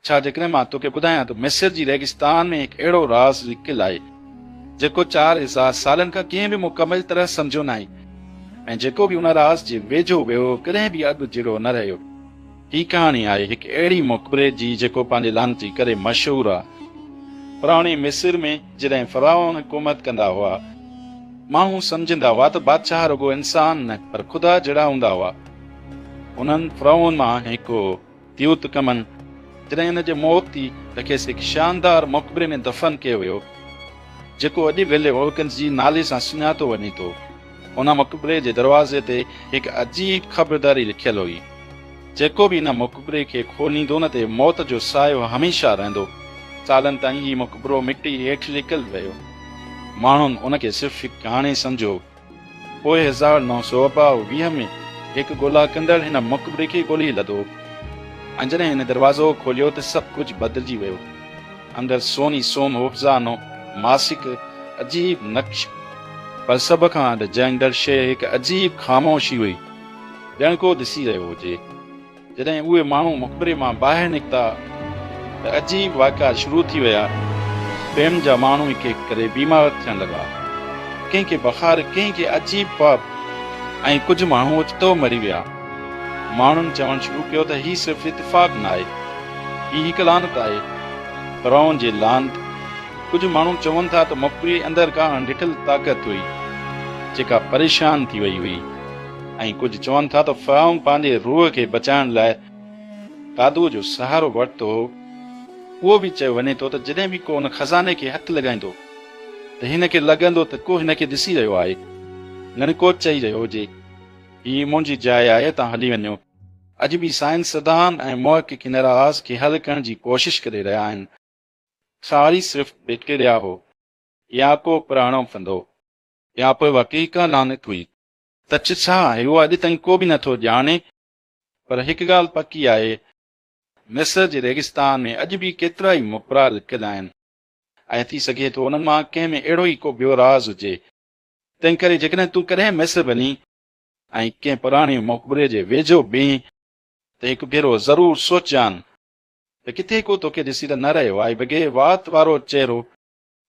ڇا جيڪڏهن مان توکي ٻڌايان ته مصر جي ريگستان ۾ هڪ اهڙو راز لڪيل آهي، جيڪو چار هزار سالن کان ڪنهن به مڪمل طرح سمجهيو ناهي ۽ جيڪو به ان راز جي ويجهو ويو ڪڏهن به اڳ جهڙو نه رهيو. هي ڪهاڻي آهي هڪ اهڙي مقبري جي جيڪو پنهنجي لعنتي ڪري مشهور آهي. پراڻي مصر ۾ جڏهن فرعون حڪومت ڪندا هئا، ماڻهو سمجهندا هئا ته بادشاهه رڳو انسان نه پر خدا جهڙا هوندا هئا. انهن فرعون مان هڪ هو. تيوت ڪمن، جڏهن هن جي موت ٿي ته کيس هڪ شاندار مقبري ۾ دفن ڪيو ويو، جيڪو اڄ ولي وولڪنس جي نالي سان سڃاتو وڃي ٿو. ان مقبري جي دروازي تي هڪ عجيب خبرداري لکيل هئي، جيڪو به ان مقبري کي کوليندو ان تي موت جو سايو هميشه رهندو. سالن تائين هي مقبرو مٽي هيٺ لڪل رهيو. ماڻهن ان کي صرف هڪ ڪهاڻي سمجهيو. پوء هزار نو سؤ ٻاهه ويهه ۾ هڪ ڳولا ڪندڙ هن مقبري کي ڳولي لڌو ۽ جڏهن هن دروازو کوليو ته سڀ ڪجهه بدلجي ويو. اندر سوني سوم هوفزانو ماس هڪ عجيب نقش هو. پر سڀ کان اڏجائيندڙ شيء هڪ عجيب خاموشي هئي، ڄڻ ڪو ڏسي رهيو هجي. جڏهن اهي ماڻهو مقبري مان ٻاهر نڪتا ته عجيب واقعا شروع ٿي ويا. ٻين جا ماڻهو هڪ هڪ ڪري بيمار ٿيڻ لڳا. ڪنهن کي بخار، ڪنهن کي عجيب خواب ۽ ڪجهه ماڻهو اوچتو مري ويا. ماڻهن چوڻ شروع ڪيو ته هي صرف اتفاق ناهي. هي هڪ لعنت آهي. فرعون جي لعنت. ڪجهه ماڻهو چون ٿا ته مقبري اندر ڪا اڻ ڏٺل طاقت هئي، جيڪا پريشان ٿي وئي هئي. ۽ ڪجهه چون ٿا ته فرعون پنهنجي روح کي بچائڻ لاء قادوء جو سهارو ورتو هو. اهو به چيو وڃي ٿو ته جڏهن به ڪو ان خزاني کي هٿ لڳائيندو ته هن کي لڳندو ته ڪو هن کي ڏسي رهيو آهي، ڄڻ ڪو چئي رهيو هجي، هي منهنجي جاء آهي، توهان هلي وڃو. اڄ به سائنسدان ۽ محققين راز کي حل ڪرڻ جي ڪوشش ڪري رهيا آهن. ساري صرف بيڪٽيريا هو يا ڪو پراڻو ڦندو يا پوء واقعي ڪا لعنت هئي. ته چه ڇا آهي اهو اڄ تائين ڪو به نه ٿو ڄاڻي پر هڪ ڳالهه پڪي آهي مصر جي ريگستان ۾ اڄ به ڪيترائي مپرا لڪل آهن ۽ ٿي سگهي ٿو انهن مان ڪنهن ۾ اهڙو ئي ڪو ٻيو راز هجي تنهن ڪري جيڪڏهن تون ڪڏهن مصر وڃين ۽ ڪنهن پراڻي مقبري جي ويجهو بيهين ته هڪ ڀيرو ضرور سوچجان ته ڪٿي ڪو توکي ڏسي ته نه رهيو آهي بگهي وات وارو چهرو